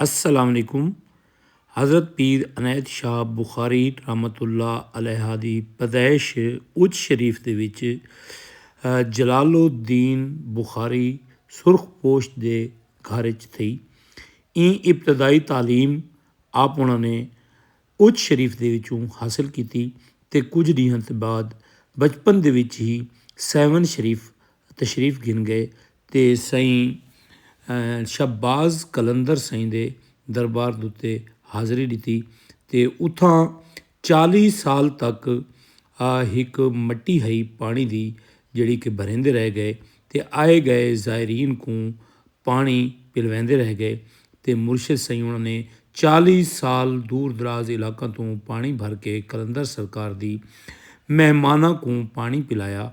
السلام علیکم حضرت پیر عنایت شاہ بخاری رحمۃ اللہ علیہ دی پیدائش اچ شریف دے وچ جلال الدین بخاری سرخ پوش دے گھر اچ تھئی ایں ابتدائی تعلیم آپ انہاں نے اچ شریف دے وچوں حاصل کیتی تے کجھ ڈینہاں دے بعد بچپن دے وچ ہی سیون شریف تشریف گھن گئے تے سائیں شہباز قلندر سائیں دے دربار دے اتے حاضری ڈتی تے اتھاں چالیہہ سال تک ہک مٹی ہئی پانڑی دی جیڑھی کہ بھریندے رہ گئے تے آئے گئے زائرین کوں پاݨی پلویندے رہ ڳئے تے مرشد سیوݨ نے چالیہہ سال دور دراز علاقاں توں پاݨی بھر کے قلندر سرکار دی مہماناں کوں پاݨی پلایا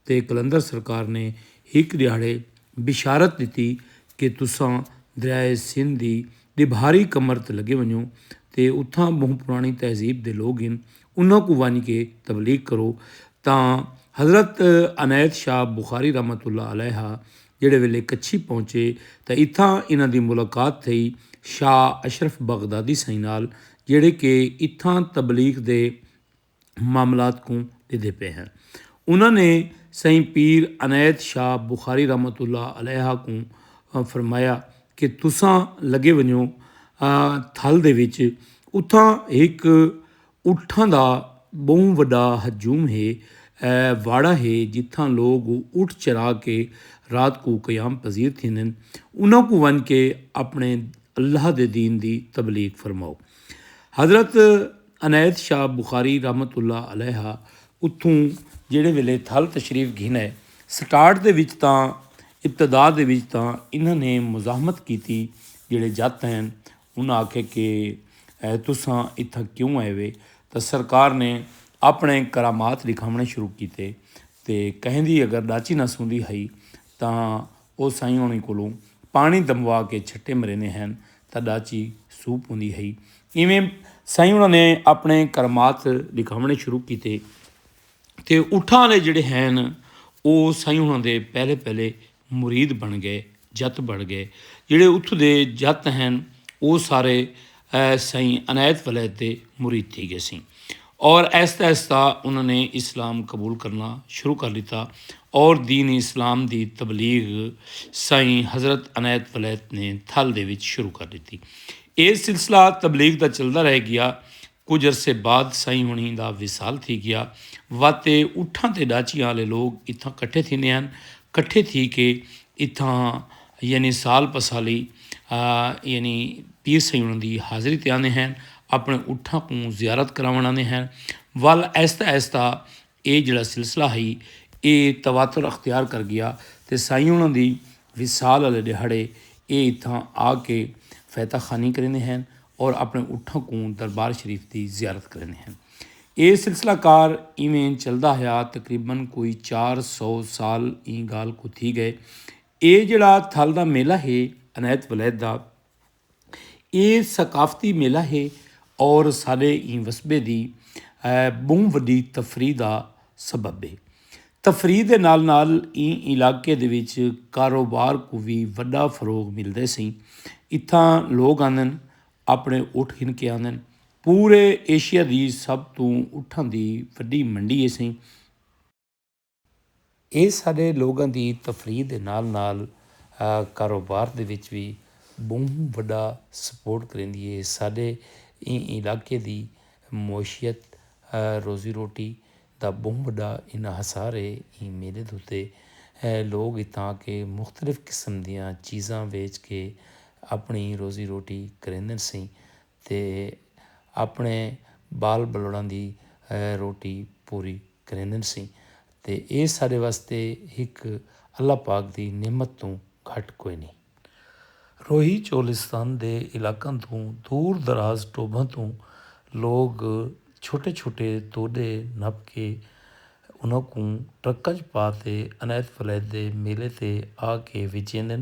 تے قلندر سرکار نے ہک ݙیہاڑے بشارت ݙتی کہ تساں دریائے سندھ دی ݙبھاری کمر تے لڳے ونڄو تے اتھاں ٻہوں پراݨی تہذیب دے لوک ہن انہاں کوں ونڄ کے تبلیغ کرو تاں حضرت عنایت شاہ بخاری رحمت اللہ علیہ جیڑھے ویلے کچھی پہنچے تاں اتھاں انہاں دی ملاقات تھئی شاہ اشرف بغدادی سئیں نال جیڑھے کہ اتھاں تبلیغ دے معاملات کوں ݙیدھے پئے ہن۔ انہاں نے سئیں پیر عنایت شاہ بخاری رحمۃ اللہ علیہ کوں فرمایا کہ تساں لڳے ونڄو تھل دے وچ اتھاں ہک اٹھاں دا ٻہوں وݙا ہجوم ہے۔ اے واڑہ ہے جتھاں لوک اٹھ چرا کے رات کوں قیام پذیر تھیندن۔ انہاں کوں ونڄ کے اپݨے اللہ دے دین دی تبلیغ فرماؤ۔ حضرت عنایت شاہ بخاری رحمۃ اللہ علیہ اتھوں جیڑھے ویلے تھل تشریف گھنے سٹارٹ دے وچ تاں ابتدا دے وچ تاں انہاں نے مزاحمت کیتی جیڑھے جت ہن انہاں آکھیا کہ تساں اتھاں کیوں آئے وے تاں سرکار نے اپنڑے کرامات ڈکھاونڑے شروع کیتے تے کہیندی اگر ڈاچی نہ سوندی ہئی تاں او سائیں ہونڑیں کولوں پانڑیں دموا کے چھٹے مریندے ہن تاں ڈاچی سو پوندی ہئی ایویں سائیں ہونڑاں نے اپنڑے کرامات ڈکھاونڑے شروع کیتے تے اٹھاں آلے جیڑھے ہن او سائیں ہونڑاں دے پہلے پہلے مرید بݨ ڳئے جت بڑ ڳئے جیڑھے اتھوں دے جت ہن او سارے سئیں عنایت ولید دے مرید تھی ڳیسیں اور آہستہ آہستہ انہاں نے اسلام قبول کرنا شروع کر ݙتا اور دین اسلام دی تبلیغ سئیں حضرت عنایت ولید نے تھل دے وچ شروع کر ݙتی اے سلسلہ تبلیغ دا چلدا رہ ڳیا کجھ عرصے بعد سئیں ہنیں دا وصال تھی گیا واتے اٹھاں تے ڈاچیاں آلے لوگ اتھاں کٹھے تھیندے ہن کٹھے تھی کے اتھاں یعنی سال پسالی یعنی پیر سئیں ہنیں دی حاضری تے آندے ہن اپنے اٹھاں کوں زیارت کراون آندے ہن ول آہستہ آہستہ ایہ جیڑھا سلسلہ ہئی ایہ تواتر اختیار کر گیا تے سائیں انہاں دی وصال آلے ڈیہاڑے ایہ اتھاں آ کے فیتہ خوانی کریندے ہن اور اپنے اٹھاں کوں دربار شریف دی زیارت کریندے ہن۔ ایہ سلسلہ کار ایویں چلدا ہیا تقریبا کوئی چار سو سال ایں گالھ کوں تھی گئے۔ ایہ جیڑھا تھل دا میلہ ہے عنایت ولید دا۔ اے ثقافتی میلہ ہے اور ساڈے ایں وسبے دی بہوں وڈی تفریح دا سبب ہے۔ تفریح دے نال نال ایں علاقے دے وچ کاروبار کوں وی وڈا فروغ ملدے سئیں۔ اتھاں لوگ آندن اپنے اٹھ گھن کے آندن۔ پورے ایشیا دی سب توں اٹھاں دی وڈی منڈی ہے سئیں۔ اے ساݙے لوگاں دی تفریح دے نال نال کاروبار دے وچ وی ٻہوں وݙا سپورٹ کریندی اے۔ ساݙے ایں علاقے دی معیشت، روزی روٹی دا ٻہوں وݙا انحصار اے۔ ایں میلے دے اتے لوگ اتھاں دے مختلف قسم دیاں چیزاں ویچ کے اپݨی روزی روٹی کریندن سئیں تے اپݨے ٻال ٻلوڑاں دی روٹی پوری کریندن سیں تے اے ساݙے واسطے ہک اللہ پاک دی نعمت توں گھٹ کوئنی۔ روہی چولستان دے علاقاں توں دور دراز ٹوبھاں توں لوک چھوٹے چھوٹے توݙے نپ کے انہاں کوں ٹرکاں ءچ پا تے عنایت ولایت دے میلے تے آ کے وچیندن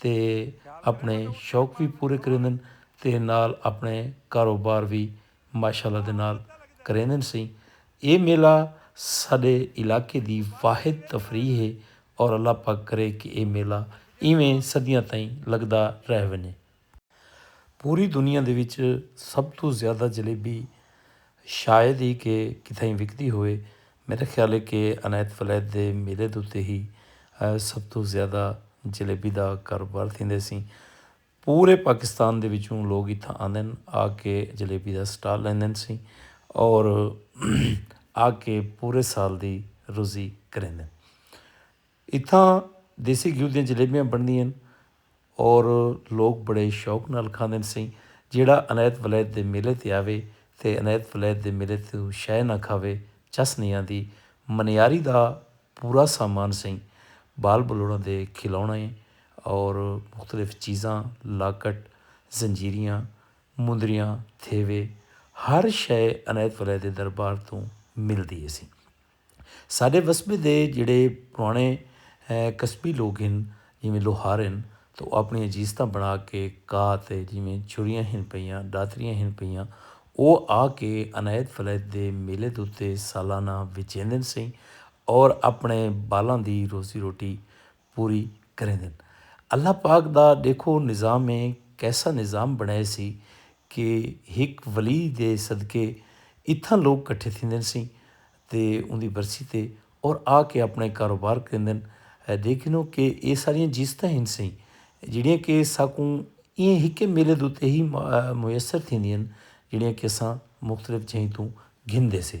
تے اپݨے شوق وی پورے کریندن تے نال اپݨے کاروبار وی ماشاءاللہ دے نال کریندن سئیں اے میلہ ساݙے علاقے دی واحد تفریح اے اور اللہ پاک کرے کہ اے میلہ ایویں صدیاں تئیں لڳدا رہ ونڄے۔ پوری دنیا دے وچ سب توں زیادہ جلیبی شاید ای کہ کتھائیں وکدی ہووے۔ میڈا خیال اے کہ عنایت ولایت دے میلے دے اتے ہی سب توں زیادہ جلیبی دا کاروبار تھیندے سی۔ پورے پاکستان دے وچوں لوگ اتھاں آندن آ کے جلیبی دا سٹال لیندن سی اور آ کے پورے سال دی روزی کریندن۔ اتھاں دیسی گھیو دیاں جلیبیاں بݨدیاں ہن اور لوک بڑے شوق نال کھاندن سئیں جیڑھا عنایت ولایت دے میلے تے آوے تے عنایت ولایت دے میلے توں شئے نہ کھاوے چس نئیں آندی منیاری دا پورا سامان سئیں ٻال ٻلوڑاں دے کھلوݨے اور مختلف چیزاں لاکٹ زنجیریاں مندریاں تھیوے ہر شئے عنایت ولایت دے دربار توں ملدی ہے سئیں۔ ساݙے وسبے دے جیڑھے پراݨے کسبی لوک ہن جیویں لوہار ہن تاں او آپݨیاں جیستاں بݨا کے کاہ تے جیویں چھریاں ہن پئیاں، ݙاتریاں ہن پئیاں او آ کے عنایت فلیت دے میلے دے اتے سالانہ وچیندن سئیں اور آپݨے ٻالاں دی روزی روٹی پوری کریندن۔ اللہ پاک دا ڈیکھو نظام ہے کیسا نظام بنڑائے سی کہ ہک ولی دے صدقے اتھاں لوگ کٹھے تھیندن سی تے اوندی برسی تے اور آ کے اپنے کاروبار کریندن دیکھنو کہ اے ساریاں جیستاں ہن سی جیڑیاں کہ ساکوں ایں ہکے میلے دے اتے ہی میسر تھیندین جیڑیاں کہ اساں مختلف جہیں توں گھندے سے۔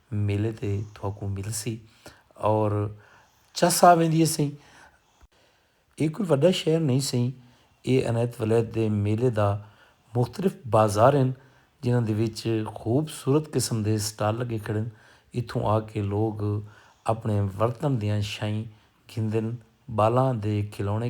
میلے تے تھوکوں ملسی اور چس آ ویندی ہے سئیں۔ اے کوئی وڈا شہر نہیں سئیں۔ اے عنایت ولایت دے میلے دا مختلف بازار ہن جنہاں دے وچ خوب صورت قسم دے سٹال لگے کھڑے ہن۔ اتھوں آ کے لوگ اپنے ورتن دیاں شئیں گھندن بالاں دے کھلونے۔